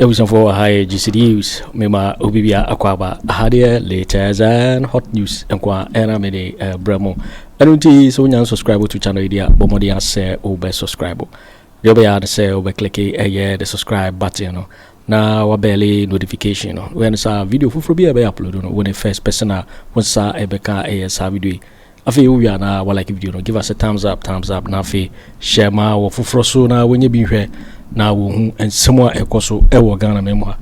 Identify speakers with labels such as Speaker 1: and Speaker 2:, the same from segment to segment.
Speaker 1: abusuafoɔ wɔ ha yɛ gc news mema obi bia akɔ aba aha deɛ latest and hot news nko a ɛna mede brɛ mo ɛno nti sɛ wonya subscribe to channel yi deɛ bɔ mmɔden asɛ wobɛ subscribe Deɛ wobɛyɛ ara ne sɛ wobɛkleke ɛyɛ the subscribe button no na wabɛle notification no. Woyɛ no saa a, video foforɔ bi a ɛbɛyɛ upload no, wone first person a wo nsa ɛbɛka ɛyɛ saa video yi. Afei wowie a na walike video no, give us a thumbs up, thumbs up, na afei hyɛ ma wɔ foforɔ so na wɔnyɛ bi nhwɛ na wɔhu nsɛm a ɛkɔ so ɛwɔ Ghana man mu ha.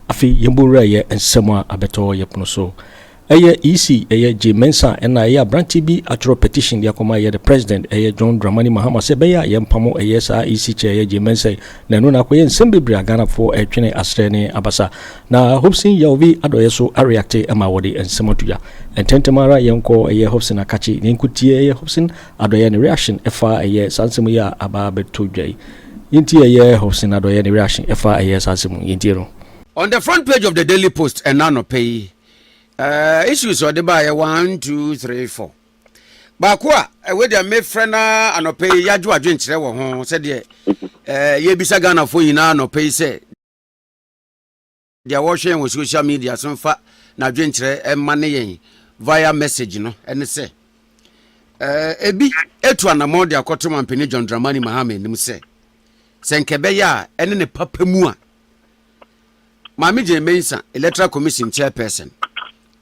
Speaker 1: Afei yɛmbɔ nwura yɛ nsɛm a abɛtɔ yɛ pono so. Ɛyɛ EC, ɛyɛ Jay Mensah ɛna ɛyɛ abranteɛ bi atwerɛ petition de akɔma ɛyɛ the President ɛyɛ John Dramani Mahama sɛ ɛbɛyɛ a yɛmpamo ɛyɛ saa EC chair ɛyɛ Jay Mensah yi na ɛno na akɔyɛ nsɛm bebree a Ghanafoɔ ɛretwene aserɛ ne abasa na Hobson Yaovi adɔeɛ so areacte ɛma wɔde nsɛm ato dwa ntɛntɛm ara yɛnkɔ ɛyɛ Hobson Akakye na yɛnkɔtie ɛyɛ Hobson Adɔeɛ ne reaction ɛfa ɛyɛ saa nsɛm yi a aba abɛto dwa yi yɛntie ɛyɛ Hobson Adɔeɛ ne reaction ɛfa ɛyɛ saa nsɛm yi yɛntie no. On the front
Speaker 2: page of the Daily Post ɛna anɔpɛ yi, Uh, issues a ɔde baayɛ one two three four baako a ɛwɔ deɛ mefrɛ no anɔpɛ yi yɛadwo adwenkyerɛ wɔ ho sɛdeɛ eh, yɛbisa ghanafoɔ nyinaa anɔpɛ yi sɛ deɛ wɔhwɛ yɛn wɔ social media so mfa na adwenkyerɛ ɛma ne yɛn via message no ɛne sɛ eh, ebi etu anamɔ de akɔto mampanin john dramani mahama anim sɛ sɛ nkɛbɛyɛ a ɛne ne papa mu a Maame Jane Mensah, Electoral Commission Chairperson,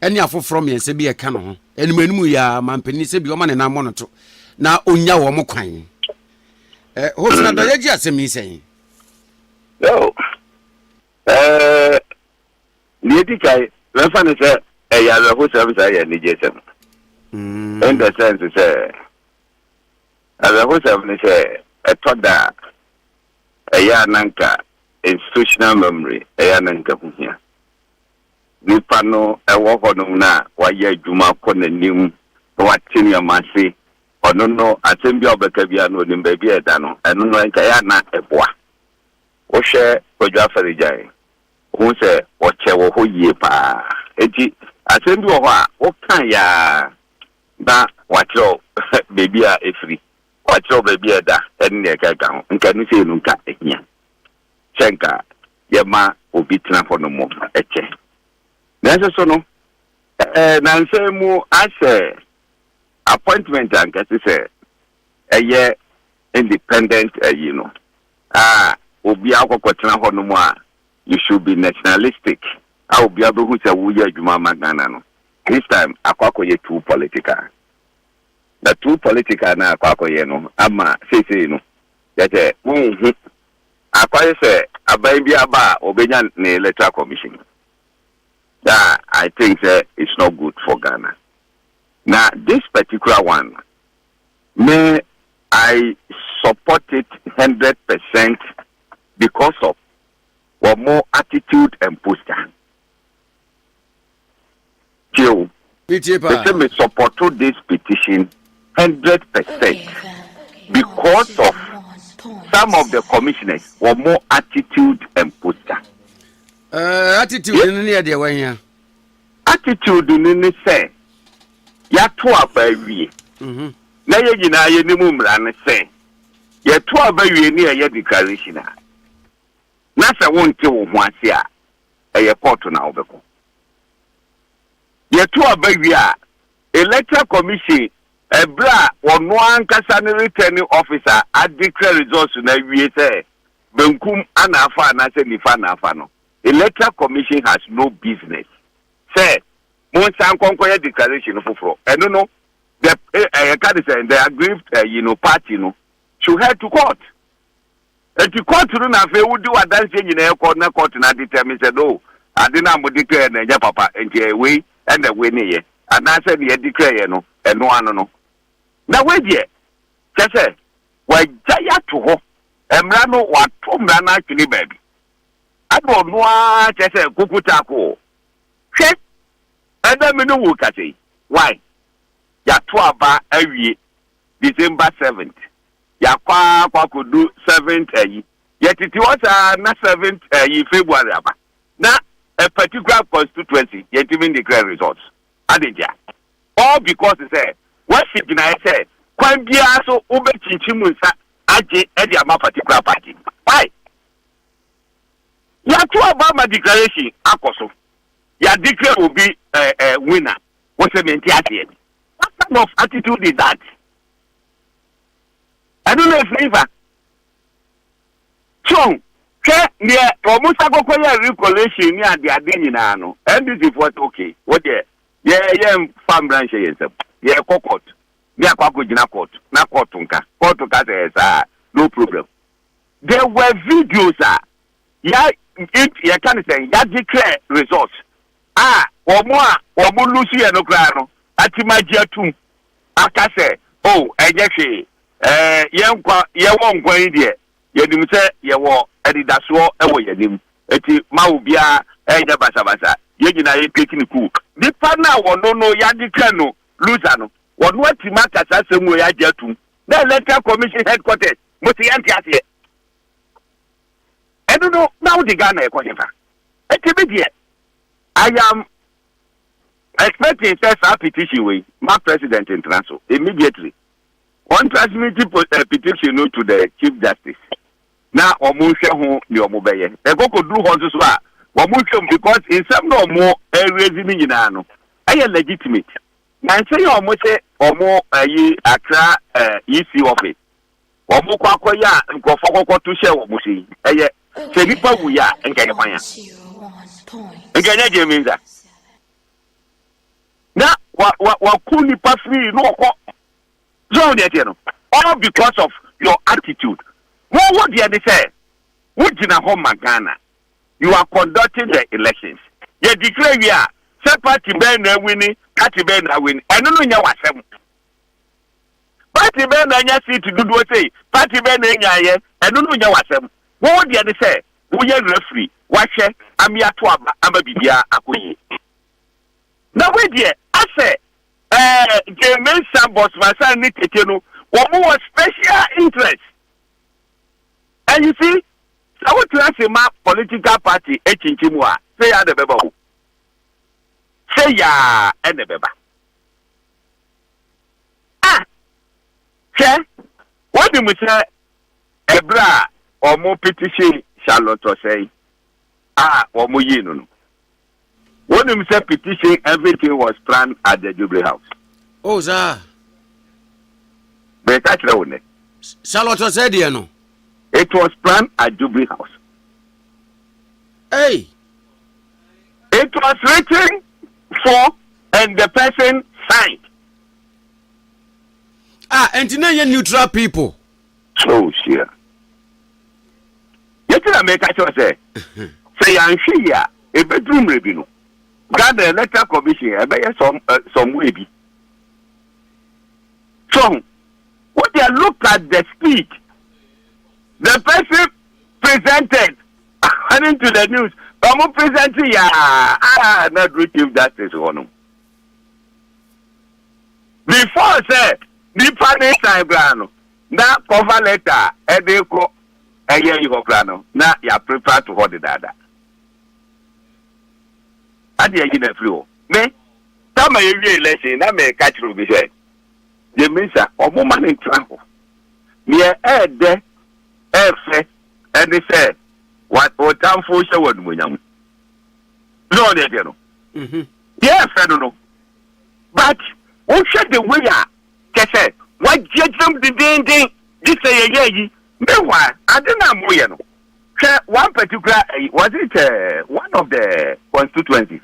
Speaker 2: ne afoforɔ mmiɛnsa bi ɛka ne ho. Anim anim yi a mampanin sɛ bi wɔma ne nan mmɔ no to na ɔnya wɔn kwan. Eh, Hosna Dɔ, yɛgye asɛm yi sɛn? Yo, eh,
Speaker 3: deɛ ɛdi kan, mɛfa no sɛ ɛyɛ awerɛhosɛm saa yɛ anigyesɛm. Mm. In the sense sɛ, awerɛhosɛm ne sɛ ɛtɔ da a ɛyɛ a na anka institutional memory, ɛyɛ a na anka ɛho hia. Nipa no wɔ hɔnom no a wayɛ adwuma akɔ n'anim na wate nneɛma ase, ɔno no asɛm bi a ɔbɛka biara no ɔnim baabi a ɛda no, ɛno no anka ɛyɛ a na ɛboa. Wohwɛ Kwadwo Afɛrigyan, wohu sɛ ɔkyɛ wɔ hɔ yie pa ara. Enti asɛm bi wɔ hɔ a wokaeɛ ara na wakyerɛw baabi a ɛfiri. Wɔakyerɛw baabi a ɛda ne nea ɛkeka ho. Nka ɛno sei no nka ehia sɛ anka yɛma obi tena hɔ no mmom no, ɛkyɛ. Nanso so no, nnansa yi mu ahyɛ appointment a anka ɛsɛ sɛ ɛyɛ independent ayi no a obiara kɔkɔtena hɔ no mu a you should be nationalistic a obiara bɛhu sɛ woyɛ adwuma ama Ghana no, this time akɔ akɔyɛ too political. Na true politics a na akɔ akɔyɛ no ama seisei no kyerɛ sɛ wonhu akwan sɛ aban bi aba a ɔbɛnya ne electoral commission mu a I think sɛ it's not good for Ghana. Na this particular one no me I support it hundred percent because of wɔn attitude and posture. Joe, me say me supporto this petition hundred percent because of some of the commissioners were more attitude and posture. Uh,
Speaker 2: attitude yes. ni ɛdeɛ wɔn ya. attitude
Speaker 3: ni ni sɛ yato aba awie. Mm-hmm. na yɛ nyinaa yɛ ne mu mmara no sɛ yɛto aba wie ne ɛyɛ declaration a na sɛ wonte wo ho ase a ɛyɛ kɔɔto na wobɛkɔ. Yɛto aba wie a, Electoral Commission ɛberɛ a ɔno ankasa ne Returning Officer adeclare results no awie sɛ benkum ana afa anaasɛ nifa na afa no, Electoral Commission has no business sɛ monsan nkɔ nkɔyɛ declaration foforɔ. Ɛno no, the, eh, eh, yɛka ne sɛ the aggrieved eh, you know, party no should head to court. Enti court no na afei wode w'adanseɛ nyinaa kɔ na court no adetermine sɛ no ade no a modeclare no ɛnyɛ papa enti ɛyɛ wei na ɛwinnieɛ anaasɛ deɛ ɛdeclareɛ no ɛno ano no. Na wei deɛ kyerɛ sɛ wɔagyae ato hɔ, mmara no wɔato mmara no atwene baabi ama ɔno ara kyerɛ sɛ kuku taakoo. Hwɛ ɛnɛ me ne wo rekasa yi, why? Yɛato aba awie December seventh. Yɛakɔ ara akɔ akɔdu seventh ayi. Yɛtete hɔ saa ara na seventh ayi February aba. Na a particular constituency yɛntumi ndeclare results. Ade ntia? All because sɛ wɔasi gyinaeɛ sɛ kwan biara so wobɛkyinkyim nsa agye de ama particular party. Why? Yɛato aba ama declaration akɔ so. Yɛadeclare obi eh, eh, winner. Wɔsɛ mente aseɛ. What kind of attitude is that? Ɛno na ɛfiri fa. So hwɛ deɛ wɔn sa kɔkɔ yɛ recollation ne ade ade nyinaa no NDC foɔ sɛ okay wo deɛ yɛ yɛ nfa mmra nhyɛ yɛn nsam yɛ kɔ court ne akɔ akɔ gyina court na court nka court ka sɛ ɛsaa no problem there were videos a yɛ yɛ ka ne sɛ yɛagye kyerɛ results a wɔn a wɔn lose yɛ no koraa no atim agye atum aka sɛ oh ɛnyɛ hwee ɛɛ yɛn nkwa yɛwɔ nkwa yi deɛ yɛnim sɛ yɛwɔ anidasoɔ wɔ yɛn anim eti ma obiara ɛnyɛ basabasa yɛn nyinaa yɛ cake ne cook. Nipa no a wɔn no yɛagye twɛn no loser no wɔn atim aka saa asɛm wei agye atum na electoral commission headquarters mo se yɛnte aseɛ. ɛno no na wode Ghana ɛkɔ hefa? Ɛti me deɛ I am expecting sɛ saa petition wei ma president ntena so immediately wɔn transmit eh, petition no to the chief justice na wɔn nhwɛ ho nea wɔn bɛyɛ ɛkɔkɔ duru hɔ nso so a wɔn nhwɛ mu because nsɛm na wɔn ɛrezi ne nyinaa no ɛyɛ legitimate na nsɛm yɛ wɔn sɛ wɔn ayi akra ɛɛ eh, ec office. Wɔkɔ akɔyɛ a nkurɔfoɔ kɔkɔto hyɛ wɔn so yi, ɛyɛ sɛ nnipa wuiɛ a nka ɛyɛ hwan a? Nka ɛnyɛ Jay Mensah. Na wa wa waku nnipa firii na wɔkɔ so deɛ ɛteɛ no all because of your attitude. Wo wo deɛ ne sɛ wogyina hɔ ma Ghana. You are conducting the elections. Yɛ declare wie a sɛ party bɛn na awini party bɛn na awini ɛno no nyɛ w'asɛm. Party bɛn na anya seat dodoɔ sei, party bɛn na ɛnyaeɛ, ɛno no nyɛ w'asɛm. Wo wo deɛ ne sɛ wo yɛ referee, w'ahwɛ ame ato aba ama biribiara akɔ yie. Na wei deɛ asɛ eh, Jane Mensah, Boss Mansan ne Tete no, wɔn wɔ special interest. And you see, sɛ wo tena ase ma political party ɛkyinkyin mu a, sɛ yaa na ɛbɛba o. Sɛ yaa ɛna ɛbɛba. A, hwɛ, wonim sɛ ɛberɛ a wɔpete hyee Charlotte ɔsɛe a wɔyii no no, wonim sɛ petition everything was planned at the Jubilee House. O, oh, saa. Meka kyerɛ wo nɛ. Charlotte ɔsɛe
Speaker 2: deɛ no. It was
Speaker 3: planned at Jubilee House. Hey. It was written for and the person signed.
Speaker 2: Ah, ɛnti na ɛnyɛ neutral people. So
Speaker 3: hyia. Yɛti na meka kyerɛ sɛ, sɛ yɛanhwɛ yi a, ɛbɛduru mmerɛ bi no, Ghana Electoral Commission ɛbɛyɛ some, uh, some way bi. So, what they look at the speed the person presented according to the news, wɔn presenting ya, ah, na duru Chief Justice hɔ no. Before sɛ nipa ne san koraa no na cover letter a ɛde kɔ ɛyɛ yi hɔ koraa no na yɛ prepare to hɔ dedaada. Ade ayi na firi hɔ. Me tama yɛ wie election na me ka kyerɛ obi sɛ yɛ misa ɔmo ma ne ntra hɔ. Neɛ ɛɛdɛ ɛɛfɛ ɛne sɛ wa otamfo hyɛ wo animonyam. Lord ne deɛ no. Mhm. Deɛ ɛfɛ no no. But wohwɛ the way a kyɛ sɛ wagyeagyina mu dendenden gye sɛ yɛyɛ yi. Meanwhile ade no a moyɛ no hwɛ one particular ɛyi was it uh, one of the constituencies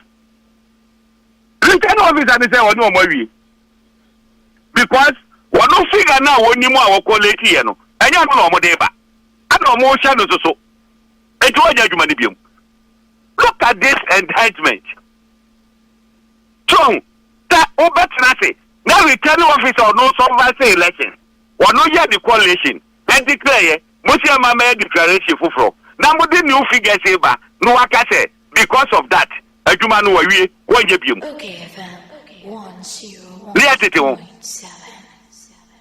Speaker 3: return officer ne sɛ ɔne ɔmo awie because wɔn figure no a wɔnim a wɔkɔ late yɛ no ɛnyɛ ano na wɔn de ba ɛna wɔn hyɛ no soso. Enti wɔnyɛ adwuma no biom. Look at this enhancement. So ɔho, sɛ wobɛtena ase na returning officer ɔno supervise election, ɔno yɛ the collation na declare yɛ, mosi ama mɛyɛ declaration foforɔ na mode new figures reba na waka sɛ because of that adwuma no wɔawie, wɔnyɛ biom.
Speaker 4: Ne yɛ
Speaker 3: tete ho.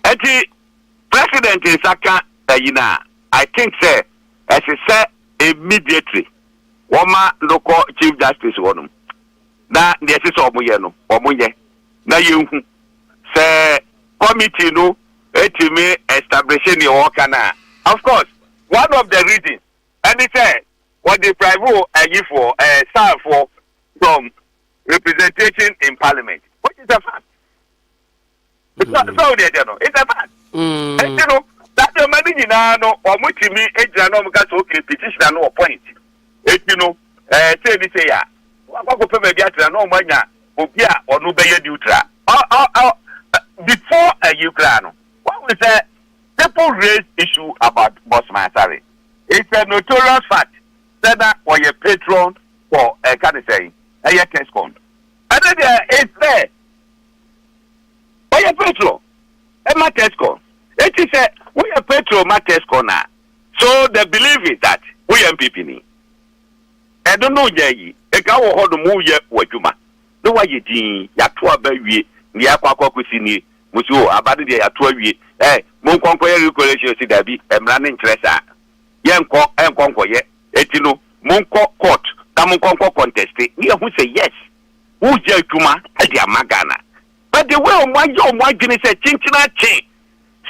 Speaker 3: Enti President nsa ka ayi no a, I think sɛ ɛse sɛ immediately wɔma no kɔ Chief Justice hɔ nom na deɛ ɛse sɛ wɔn yɛ no wɔn nyɛ na yɛnhu sɛ committee no tumi establishe deɛ wɔka no a. Of course one of the reasons ɛne sɛ wɔ deprive ayifoɔ ɛɛ Safoɔ from representation in Parliament which is a fact. sɛ sɛ o deɛ deɛ no it's a fact ɛti no saa nneɛma no nyinaa no wɔn tumi gyina na wɔn ka sɛ okay petitioner no wɔ point ɛti no ɛɛ sɛ ɛni sɛ yɛ a wɔn akɔ akɔpɛ baabi atena na wɔn anya obi a ɔno bɛyɛ neutral ɔ ɔ ɔ before ɛyi koraa no wɔn wɔ sɛ people raise issue about Bossman Asare it's a notorious fact sɛ na wɔyɛ patron for ɛka ne sɛn ɛyɛ Tescon ɛne deɛ it's there. Ɔyɛ Petro ma Tesco. Enti sɛ woyɛ Petro ma Tesco no a, so the belief is that woyɛ NPP ni? Ɛno ne wonya yi? Nka wowɔ hɔ nom woreyɛ w'adwuma na woayɛ dinn, yɛato aba awie, deɛ yɛakɔ akɔ akɔsi nie, mo se o, aba no deɛ yɛato awie, ɛ, monkɔ nkɔyɛ regulation, yɛse daabi, mmara no nkyerɛ saa, yɛnkɔ nkɔ nkɔyɛ, enti no monkɔ court na monkɔ nkɔ conteste na yɛahu sɛ yes, Woreyɛ adwuma de ama Ghana but the way wɔn ayɛ wɔn adwene sɛ kyenkyen akye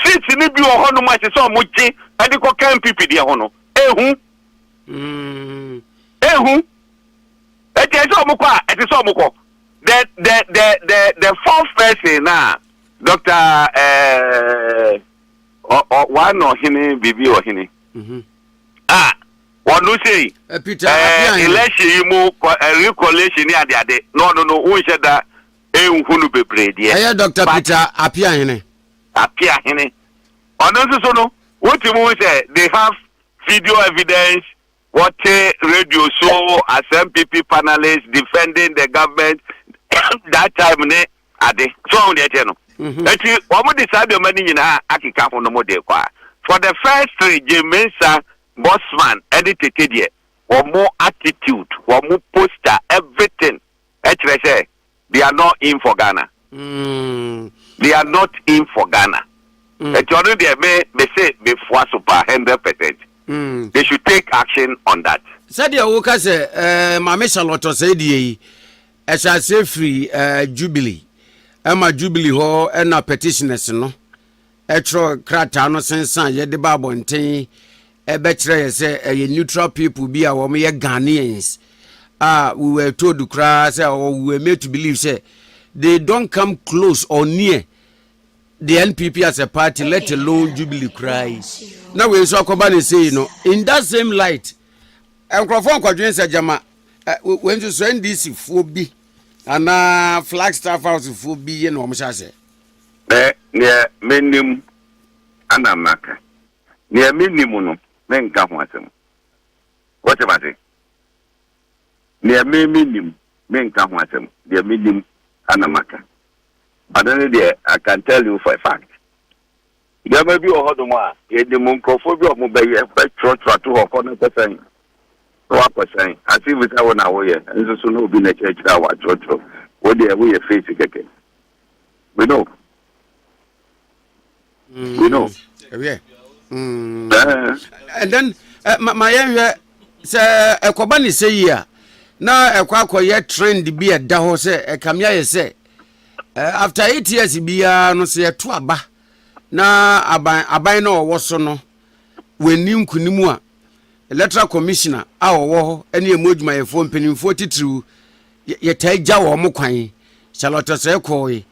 Speaker 3: seats no bi wɔ hɔnom a ɛsɛ sɛ wɔn gye de kɔ ka NPP deɛ ho no, ehu. Ehu. Eti ɛsɛ sɛ wɔn kɔ a ɛsɛ sɛ wɔn kɔ. The the the the the fourth person na Dr. Ɛɛ ɔ ɔ wa na ɔhene biribi ɔhene. Ah. Wɔno sei, Eh, Peter, eh, afe ahe?
Speaker 2: election yi
Speaker 3: mu kɔ, eh, recollation ne adeade, na ɔno no wonhyɛ da nhu no bebree deɛ. Ɛyɛ Doctor But Peter
Speaker 2: Apeahene. Apeahene.
Speaker 3: Ɔno nso so no, wotumi hu sɛ they have video evidence, wɔte radio so as MPP panelists defending the government that time ne ade. So wahu deɛ ɛteɛ no? Enti wɔn de saa nneɛma no nyinaa akeka ho no mo de kɔ a, for the first three, Jim Mensah, Bossman ɛne Tete deɛ, wɔn attitude, wɔn poster, everything ɛkyerɛ sɛ they are not in for Ghana. They are not in for Ghana. Enti ɔno deɛ me me se me foa so pa hundred percent. They should take action on that. Sɛdeɛ woka sɛ
Speaker 2: ɛɛ Maame Charlotte Osei deɛ yi. Ɛhyɛ aseɛ firi uh, Jubilee. Ɛma Jubilee hɔ ɛna petitioners no ɛtwerɛ krataa no sensan yɛde ba abɔnten ɛbɛkyerɛ yɛ sɛ ɛyɛ neutral people bi a wɔn yɛ Ghanaians a we were told koraa sɛ or we were made to believe sɛ they don't come close or near the NPP as a party let alone Jubilee koraa yi na wei nso akɔba ne sei no in that same light nkurɔfoɔ nkɔdwen sɛ gyama wei nso so ndc foɔ bi anaa flagstaff house foɔ bi yɛ na wɔn hyɛ aseɛ. Mɛ
Speaker 3: neɛ menim ana maka neɛ menim no menka ho asɛm wote mase neɛ me menim menka ho asɛm deɛ menim ana maka ɔno ne deɛ I can tell you for a fact. Nneɛma bi wɔ hɔnom a, yɛnim nkurɔfoɔ bi a wɔbɛyɛ, bɛtwerɛtwerɛ ato hɔ, kɔ na kɔ sɛn, na woakɔ sɛn, as if sɛ wo na woyɛ, nso so na obi na akyerɛkyerɛ a watwerɛtwerɛ, wo deɛ woyɛ fake kɛkɛ. We know. We know.
Speaker 2: Mm, yeah. Mm. Uh, and then, uh, my, my, uh, sɛ ɛkɔba ne sɛ yi a na ɛkɔ akɔyɛ trend bi ɛda hɔ sɛ ɛkame ayɛ sɛ Eh, after eight years biara no sɛ yɛto aba na aban aban na ɔwɔ so no wɔnni nkunim a electoral commissioner a ɔwɔ hɔ ne ɛmu adwumayɛfoɔ mpanimfoɔ titiriw yɛtaa gya wɔn mo kwan charlotte sɛ kɔɔe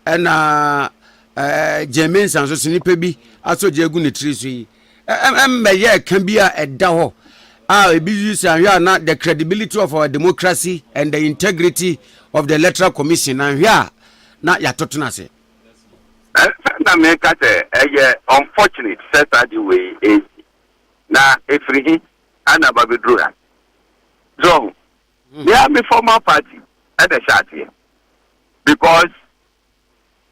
Speaker 2: ɛna gyeme nsa nso so nnipa bi asɔ gya agu ne tiri so yi ɛmmɛyɛɛ ka bi a ɛda hɔ a ebi use anhwɛ a na the credibility of our democracy and the integrity of the electoral commission anhwɛ a na yɛato tena ase. Ɛnsɛ
Speaker 3: na meka sɛ ɛyɛ unfortunate sɛ saa de wei resi. Na ɛfiri he na aba bɛduru ha? So ɔho? Me ara me former party na ɛhyɛ aseɛ because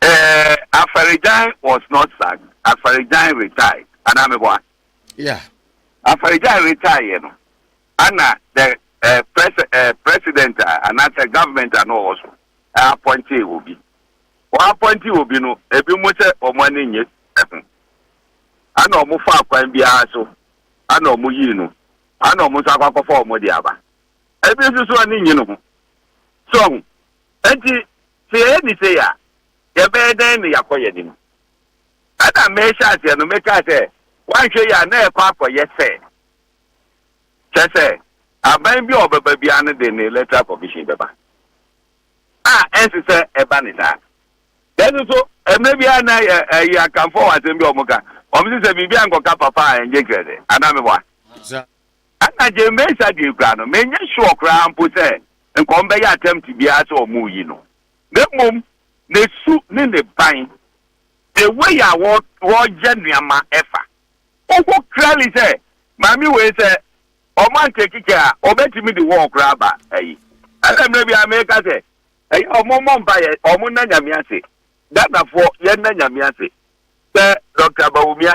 Speaker 3: Eh, Afarigyan was not sacked, Afarigyan retired, anaa mebɔ a? Yeah.
Speaker 2: Afarigyan
Speaker 3: retire yɛ no, ana the eh, pres eh, president a anaasɛ government a na ɔwɔ so eh, appointee obi. Wɔappointee obi no, ebi mu sɛ wɔn ani nnye ho, ana wɔn faa kwan biara so, ana wɔn yii no, ana wɔn nso akɔ akɔfa wɔn de aba. Ebi nso so ani nnye ne ho. So ho. Enti Sɛ yɛyɛ bi sei a, yɛbɛyɛ dɛn na yɛakɔ yɛn anim? Ɛnna a merehyɛ aseɛ no, mekaa sɛ, Woanhwɛ yie a, na ɛrekɔ akɔyɛ sɛ, kyerɛ sɛ, aban bi a ɔbɛba biara no de ne Electoral Commission bɛba, a ɛnsɛ sɛ ɛba ne saa. Nanso so, mmerɛ biara na ɛyɛ Akanfoɔ wɔ asɛm bi a wɔka, wɔse sɛ biribi ankɔka papa a, ɛnyɛ krɛdɛ, anaa meboa? Ɛna Jane Mensah deɛ koraa no, menyɛ sure koraa mpo sɛ nka wɔbɛyɛ attempt biara sɛ wɔreyi no. Na mmom, ne su ne ne ban, the way a wɔyɛ nneɛma fa. Wohu clearly sɛ maame wei sɛ wɔantake care a, wɔbɛtumi de war koraa aba ayi. Ɛna mmerɛ bi ara meka sɛ, ɛyɛ a wɔmmɔ mpaeɛ, wɔnna Nyame ase. Ghanafoɔ, yɛnna Nyame ase sɛ Doctor Bawumia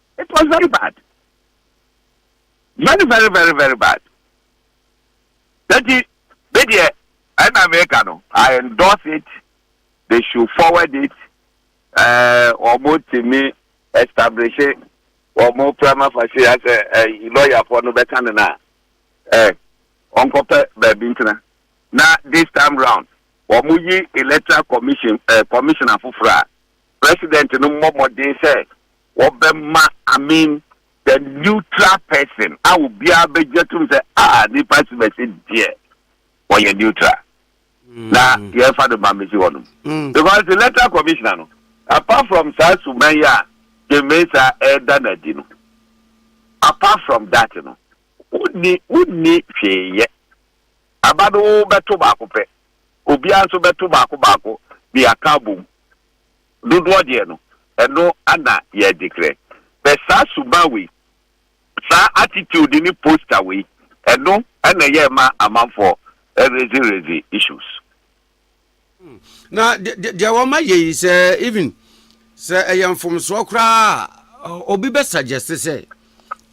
Speaker 3: it was very bad very very very very bad nti me deɛ ɛna meka no i endorse it they should forward it ɛɛ wɔn tumi establish wɔn prima facie asɛ ɛyi lɔyafoɔ no bɛka ne na ɛɛ ɔnkɔpɛ baabi ntena na this time round wɔn yi electoral commission ɛɛ commissioner foforɔ a President no mmɔ mmɔden sɛ wɔbɛma Amin the neutral person a obiara bɛgye atom sɛ ah nnipa si bɛsi deɛ wɔyɛ neutral na mm. yɛmfa no ma mmɛsi hɔ nom mm. because the electoral commissioner no apart from saa suman yi a gyemesa ɛreda no adi no apart from that no wonni wonni hwee yɛ aba no wobɛto baako pɛ obiara nso bɛto baako baako de aka abom dodoɔ deɛ no, ɛno na yɛgye krɛ. Bɛ saa suban wei, saa attitude ne posture wei, ɛno na ɛyɛ ɛma amanfoɔ raise raise issues. Na
Speaker 2: deɛ wɔma yɛ yi sɛ even sɛ ɛyɛ mfomsoɔ koraa a obi bɛ suggest sɛ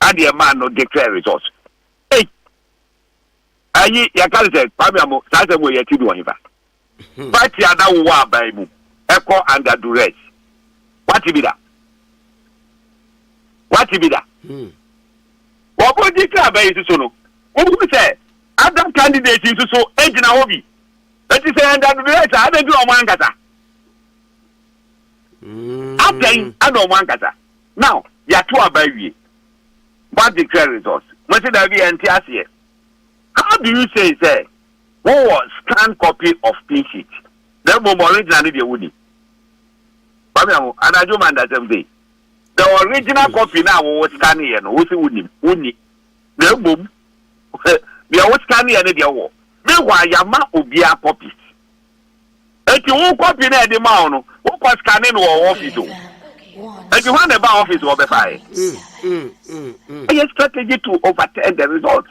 Speaker 3: adeɛ maa no declare result ei ayi yɛka ne sɛ kwame amo saa sɛ mo yɛ ti do ɔhefa party a na wowɔ aban mu ɛkɔ under duress wate bi da wate bi da wɔbɔ declare aban yi so no wohu sɛ other candidates nso so gyina hɔ bi ɛti sɛ under duress a adɛn ti na ɔmo ankasa atɛn ana ɔmo ankasa Now yɛato aba awie moa declare results mose daabi yɛnte aseɛ how do you say sɛ wowɔ scanned copy of pin sheet na mmom original no deɛ wonni Kwame Aho anadwo ma ndasɛm sei the original copy no a wowo scanneɛ no wose wonnim wonni na mmom deɛ wo scanneɛ no deɛ wowɔ meanwhile yɛama obiara copies Enti wo kɔpi na ɛde ma wo no, wokɔ scanne no wɔ office o. Enti hwan na ɛbaa office wɔ bɛfaeɛ? Ɛyɛ strategy to overturn the result.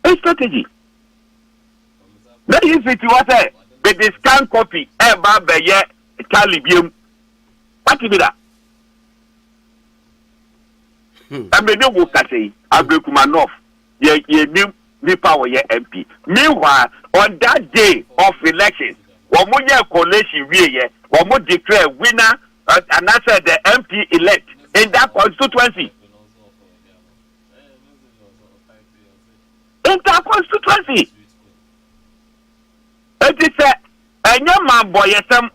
Speaker 3: Ɛyɛ strategy. Na yi fiti hɔ sɛ mede scan copy ɛba bɛyɛ tally biam. Wate bi da? Ɛmɛ ne wo kasa yi, abirikuma nɔf. yɛ yɛnim nipa wɔyɛ MP. Meanwhile, on that day of elections, wɔn yɛ collation wie yɛ, wɔn declare winner uh, anaasɛ the MP elect in that constituency. In that constituency. It is a ɛnyɛ mambɔyɛsɛm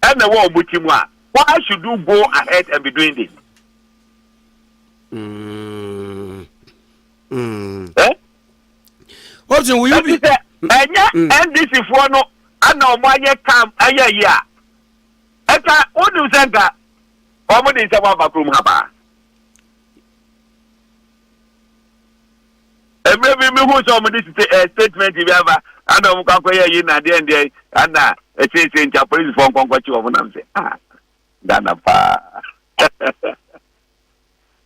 Speaker 3: ɛna ɛwɔ wɔn ti mu a why should you go ahead and be doing this. Mm.
Speaker 2: option wo yubi. ɛti sɛ ɛnyɛ
Speaker 3: ndc foɔ no ɛna ɔmo ayɛ tam ɛyɛ yi a ɛta wonim sɛ nka ɔmo de nsɛm aba kurom ha paa mmerɛ bi mehu sɛ ɔmo de statement bi aba ɛna ɔmo kɔ akɔyɛ yi na deɛ ndeɛ ɛna ɛsese nti apolisifoɔ nkɔnkɔkye ɔmo nam sɛ ah Ghana paa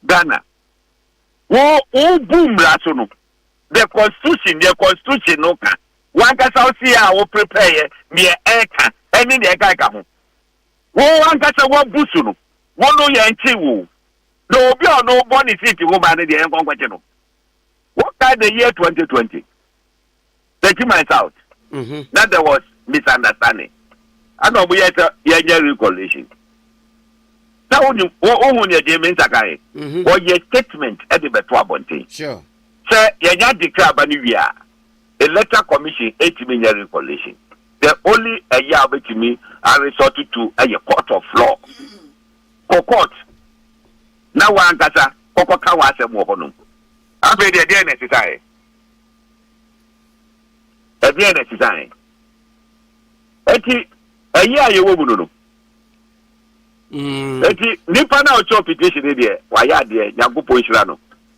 Speaker 3: Ghana Wo wobu mmara so no, the constitution, deɛ constitution no ka, wankasa wo se a wo prepare yɛ, deɛ ɛka, ɛne deɛ ɛka ɛka ho. Wo ankasa wabu so no, wo no yɛn kye wo. Na obi a ɔno bɔ ne seat ho ba no deɛ yɛn kɔ nkɔkye no. Wo ka the year 2020. they threw my south na there was misunderstanding ɛna ɔmo yɛ sɛ yɛnyɛ reconciliation na wonim wohu nea gyee me nsa kan yɛ wɔyɛ statement ɛde bɛto abɔnten sɛ
Speaker 2: yɛnya
Speaker 3: adekra aba no wie a electoral commission ɛtumi nyɛ reconciliation the only ɛyɛ a wobɛtumi aresort to ɛyɛ court of law kɔ court na wankasa kɔkɔka w'asɛm wɔ hɔnom afei deɛ deɛ na ɛsesaeɛ ɛdeɛn na ɛsesae ɛti ɛyɛ a yɛwɔ mu no no ɛti mm. nipa no a ɔkyɛ petition no deɛ wayɛ adeɛ nyankopɔn nhyira no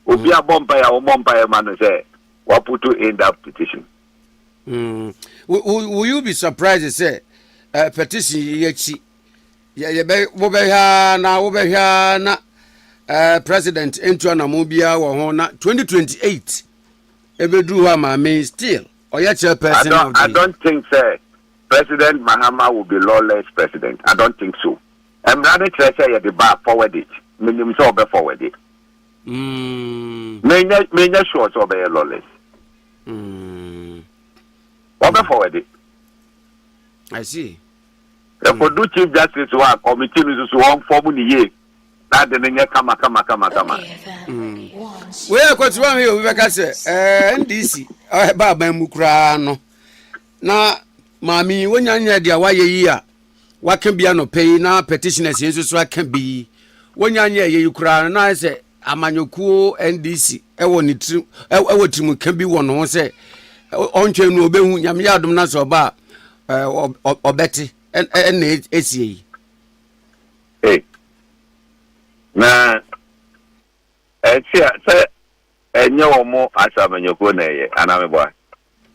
Speaker 3: mm. obi abɔ mpaeɛ a wɔmmɔ mpaeɛ ma no sɛ waputo in that petition mm.
Speaker 2: will you be surprised sɛ uh, petition yi akyi wobɛhwɛ a na wobɛhwɛ a na uh, president ntuanamo biara wɔ ho na 2028 ɛbɛduru hɔ a maame still ɔyɛ chairperson of the. I don't think sɛ
Speaker 3: president mahama will be lawless president I don't think so mmara no kyerɛ sɛ yɛde ba forward it menim sɛ ɔbɛ forward it mm. menyɛ menyɛ sure sɛ ɔbɛyɛ lawless mm. ɔbɛ forward it.
Speaker 2: I see. ɛkɔdu
Speaker 3: mm. chief justice hɔ a committee no nso so wɔn fɔm ne yie. na ade no nyɛ kama kama kama kama.
Speaker 2: Mm. wei yɛ kwatiri wɔn yɛ obi bɛka sɛ ɛɛ eh, ndc ɛba eh, aban mu koraa no na maame yi wonya nyɛ deɛ wayɛ yi a waka bi anɔpɛ yi na petitioners yi nso so aka bi yi wonya nyɛ ɛyɛ yi koraa no na sɛ amanyɔkuo ndc ɛwɔ ne tirim ɛwɔ tirim ka bi wɔ ne ho sɛ ɔntwɛn no ɔbɛhu nyame yɛ adom na sɛ ɔba a ɔbɛte ɛna ɛsie yi
Speaker 3: Hey. Na ɛsi a sɛ ɛnyɛ wɔn mo asamanyɔkuo na ɛyɛ anaa meboa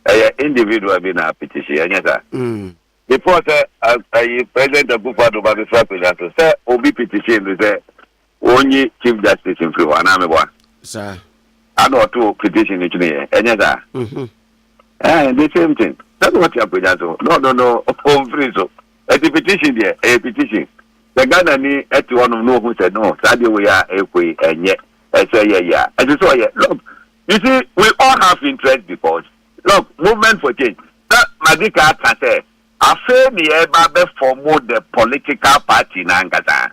Speaker 3: ɛyɛ individual bi na apetition ɛnyɛ saa. Mm. Before sɛ ɛyi president Akufo-Addo ba bɛfiri akonnwa so sɛ obi petition bi sɛ wɔnyi chief justice mfiri hɔ anaa meboa. Saa.
Speaker 2: Ana ɔto
Speaker 3: petition no twene yɛ ɛnyɛ saa. Mm-hmm. Ɛɛ the same thing sɛde wɔte akonnwa so na ɔno no ɔmfiri so ɛti petition deɛ ɛyɛ petition sɛ Ghana ni ɛte hɔnom na ɔhu sɛ no saa deɛ wei a ɛkɔ yi ɛnyɛ ɛsɛ yɛ yɛ a ɛsɛ sɛ ɔyɛ look you see we all have interest because look movement for change na madi ka aka sɛ afei ne yɛba bɛfɔmo the political party na ankasa.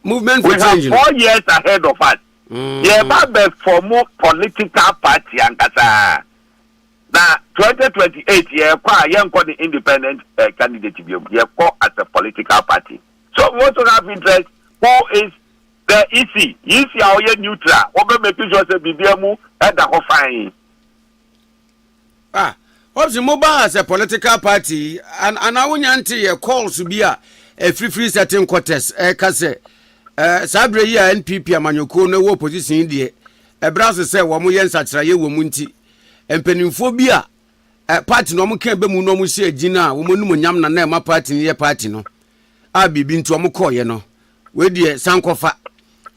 Speaker 2: movement for change no. we have four years ahead
Speaker 3: of us. Mm. yɛba bɛfɔ mo political party ankasa na 2028 yɛkɔ a yɛnkɔ ne independent uh, candidate biom yɛkɔ as a political party so we also have interest who is the ec ec a ɔyɛ neutral wɔbɛ make sure sɛ biribia mu ɛda hɔ fine
Speaker 2: Ah, obviously mo ba as a political party and and awo nya nte yɛ calls bi a ɛfirifiri certain quarters ɛka sɛ ɛɛ saa abirɛ yi a NPP amanyɔkuo no ɛwɔ opposition yi deɛ ɛbrɛ ase sɛ wɔn yɛ nsakyerɛyɛ wɔ mu nti mpanimfoɔ bi a ɛ party no wɔn kɛn bɛ mu no wɔn hyɛ gyina a wɔn anim nyam na na ɛma party no yɛ party no a biribi nti wɔn kɔɔyɛ no wei deɛ sankɔfa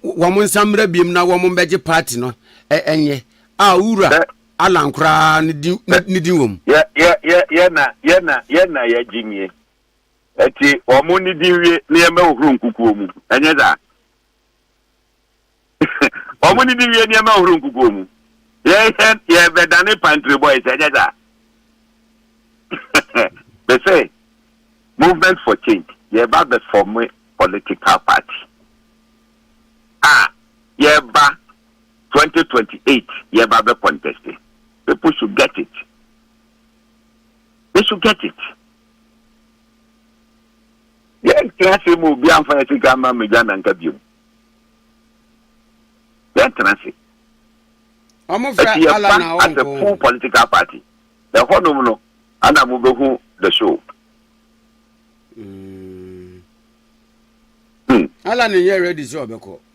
Speaker 2: wɔn nsa mmerɛ biem na wɔn bɛgye party no ɛnyɛ a wura. Alan koraa ne din na ne din wɔ mu. Yɛ
Speaker 3: yɛ yɛ yɛ na yɛ na yɛ na yɛ gye nie. Ɛti wɔn ne din wie ne yɛn bɛ hohoro nkukuo mu. Ɛnyɛ saa. wɔn ne din wie ne yɛn bɛ hohoro nkukuo mu. Yɛ yɛ yɛ bɛ dane pantry boys. Ɛnyɛ saa. Bɛ sɛ movement for change yɛ ba bɛ form political party. A yɛ ba Twenty twenty eight yɛba bɛ contest people should get it they should get it yɛntena ase ma obi amfa yɛ sika ama mmegya nanka biom yɛntena ase
Speaker 2: ɛti yɛba as a full
Speaker 3: political party ɛhɔnom no ana mobɛhu the show mm.
Speaker 2: hmm. ala ne yɛ ready sɛ ɔbɛkɔ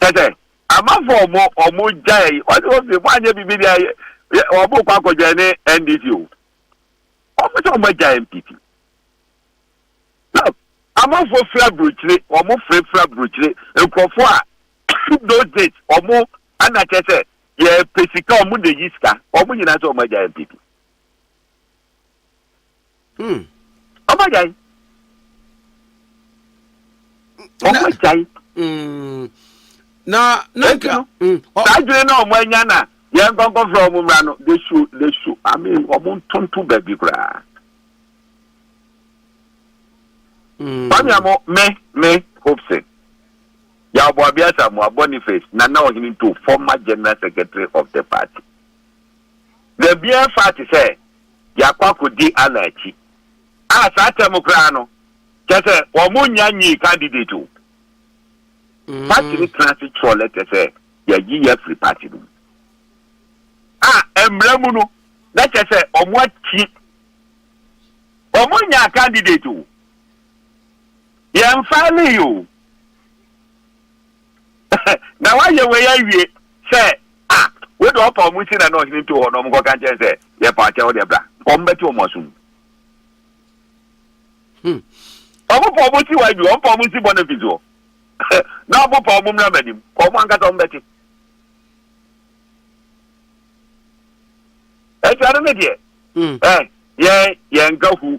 Speaker 3: kyerɛ sɛ, amanfoɔ a wɔn, wɔn gyae, wɔsi wɔn se, moanyɛ biribi deɛ a, yɛ, wɔn kɔ akɔ joine NDC o. Wɔn sɛ wɔn agya NPP. Look, amanfoɔ firi aburokyire, wɔn firi firi aburokyire, nkurɔfoɔ a, those days, wɔn, ana kyerɛ sɛ, yɛpɛ sika, wɔn na eyi sika, wɔn nyinaa sɛ wɔn agya NPP. Hmm. Ọmọ jai. Ọmọ jai. Hmm. Na
Speaker 2: na nka.
Speaker 3: Hmm. Saa adwene na ọmọ anya na yẹn nkọnkọfra ọmọ mmra no they should they should I mean ọmọ ntonto baabi koraa. Hmm. Mami amo me me Hopeson. Yàwọ̀ Abiasa Moa Boniface Nana Ohene Nto former general secretary of the party. Dabi ɛfa te sɛ yɛakɔ akɔdi Allah akyi a saa tam koraa no kyerɛ sɛ wɔn nya nyii candidate o. Party no tena ase twerɛ lɛtɛ sɛ yɛayi yɛ afiri party no mu a mmara mu no na kyerɛ sɛ wɔn akyi wɔn nya candidate o. Yɛn file yi o. Na wɔayɛ wei awie sɛ, a, wei deɛ ɔpa wɔn nti na na ɔhene too hɔ na wɔnkɔka nkyɛn sɛ, Yɛpa wo kyɛ, wo deɛ bra. Wɔbɛte wɔn asom. Hmm. Wɔpa wɔn nsi wɔ adwuma, wɔpa wɔn nsi bɔ ne mfi soɔ. Na wɔpa wɔn mmra m'anim, wɔn ankasa wɔbɛte. Ɛti ano ne deɛ, hmm. eh, yɛn, yɛn nka hu.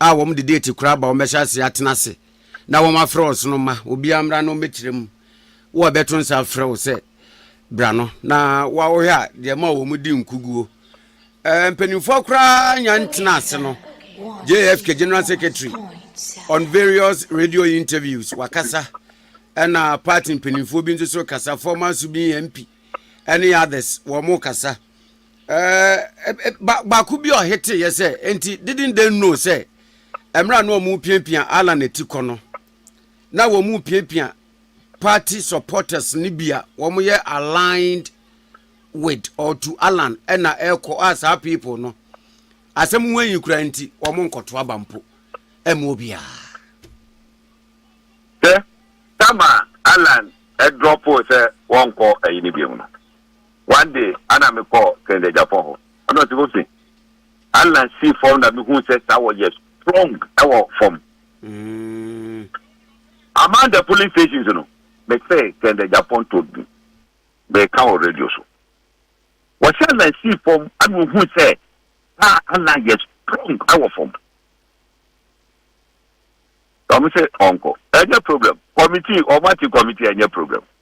Speaker 2: a wɔde deeti kora aba, wɔbɛhyɛ ase atena ase na wɔafrɛ ɔsono mma obiara mmra na ɔmmɛkyerɛ mu. Wo a ɛbɛto nsa afrɛ wo sɛ bra no, na wohwɛ a deɛ ma wɔdi nkuguo. Eh, mpanimfoɔ koraa nya ntena ase no, JFK General Secretary on various radio interviews wakasa ɛna party mpanimfoɔ bi nso so kasa, former Subin MP ɛne others wɔn kasa. ɛɛ ba baako bi a ɔhete yɛ sɛ nti didn't they know sɛ mmerɛ na wɔn piapia Alan ati kɔ no na wɔn piapia party supporters ne bi a wɔn yɛ aligned with or to Alan ɛna ɛkɔ a saa people no asɛm ho ayi kura nti wɔn nkɔto aba mpo ɛmu obiara.
Speaker 3: Sɛ sama Alan ɛdrɔpo sɛ wɔnkɔ ɛyi ne bi mu no. One day ana me kɔ kɛndɛgyafɔ hɔ ɛna ɔsi hose ana si fɔm na me hu sɛ saa wɔ yɛ strong ɛwɔ fɔm. Among the polling stations no me sɛ kɛndɛgyafɔ ntɔ bi me ka wɔ radio so wɔsi ana si fɔm ana ohu sɛ saa ana yɛ strong ɛwɔ fɔm. Ɔmo sɛ ɔnkɔ ɛnyɛ problem committee ɔmo ati committee ɛnyɛ problem.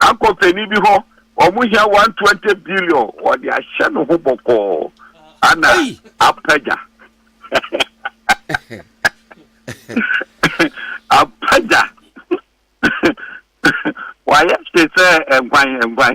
Speaker 3: Akɔ panin bi hɔ, wɔn hia one twenty billion, wɔde ahyɛ ne ho bɔkɔɔ ana apagya. apagya. Wayɛ te sɛ nkwan nkwan.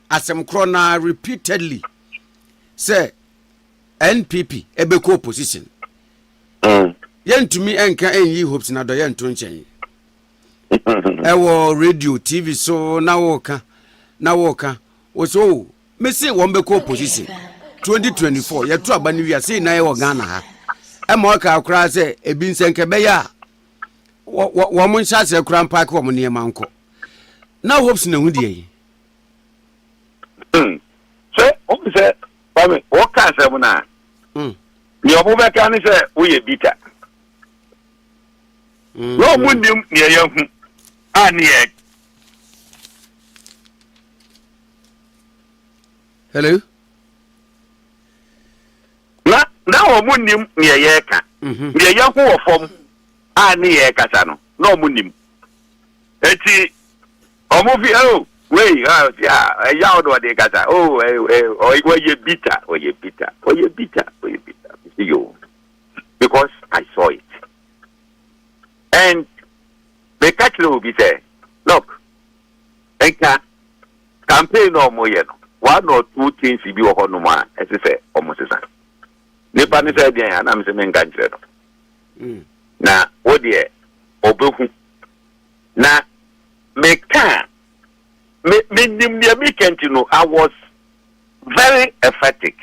Speaker 2: asɛm korɔ no ara repeatedly sɛ npp ɛbɛkɔ opposition mm. yɛntumi nka ɛnyi hopes na dɔyɛ nto nkyɛn ɛwɔ radio tv so na wɔka na wɔka wɔ sɛ o oh, mese wɔn bɛkɔ opposition 2024 yɛto aba no wia sei na yɛwɔ ghana ha ɛma ɔkaa koraa sɛ ebi nsɛnkɛ bɛyɛ a wɔn nhyɛ aseɛ koraa mpaake wɔn nneɛma nkɔ na hopes na ehu deɛ yi
Speaker 3: Hmm. Sɛ wohu sɛ Kwame woka asɛm no a hmm. nea ɔmo bɛka ne sɛ woyɛ bita. Hmm. Na ɔmo nim nea yɛahu a ne yɛ.
Speaker 2: Hello.
Speaker 3: Na na ɔmo nim nea yɛka. Mhm. Nea yɛahu wɔ fam a ne yɛkasa no na ɔmo nim. Eti Ɔmo fi oh wei ah ah ɛyaw na ɔde kasa oh eh eh ɔy- ɔyɛ bitter ɔyɛ bitter ɔyɛ bitter ɔyɛ bitter me se yo because I saw it and meka kyerɛ obi sɛ look nka campaign na ɔmo yɛ no one or two things bi wɔ hɔnom a ɛsɛ sɛ ɔmo sesa nipa ne sɛ deɛn a na me se menka nkyerɛ no Mm. na wo deɛ ɔbɛhu Na meka a, me, menim deɛ meka nti no, I was very emphatic.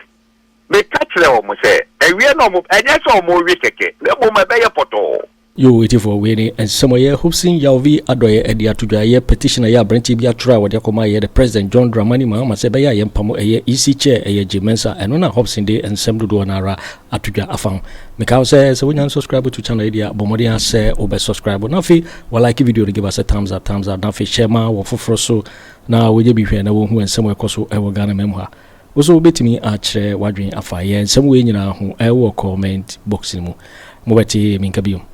Speaker 3: Meka kyerɛɛ wɔn sɛ, ɛweɛ na wɔn, ɛnyɛ sɛ wɔrewe kɛkɛ, na mmom ɛbɛyɛ pɔtɔɔ. Yoo atifoɔ, wei
Speaker 1: ne nsɛmɔyɛ Hobson Yawvi adɔeɛ ɛde ato dwa. Ɛyɛ petition a ɛyɛ aberanteɛ bi atwerɛ a wɔde akɔma yɛn President John Dramani Mahama sɛ ɛbɛyɛ a yɛmpamo ɛyɛ EC Chair, ɛyɛ Jim Mensah. Ɛno na Hobson de nsɛm dodoɔ no ara ato dwa afa ho meka wo sɛ sɛ wonya subscribe to channel yi deɛ bɔ mmɔden asɛ wobɛ subscribe na afei walike video no give us a thumbs up thumbs up na afei hyɛ ma wɔ foforɔ so na wɔnyɛ bi hwɛ na wɔhu nsɛm ɛkɔ so ɛwɔ ghana mam ha wo so wobɛtumi akyerɛ wadwen afa yɛ nsɛm wei nyinaa ho ɛwɔ comment box no mu mobɛte menka biom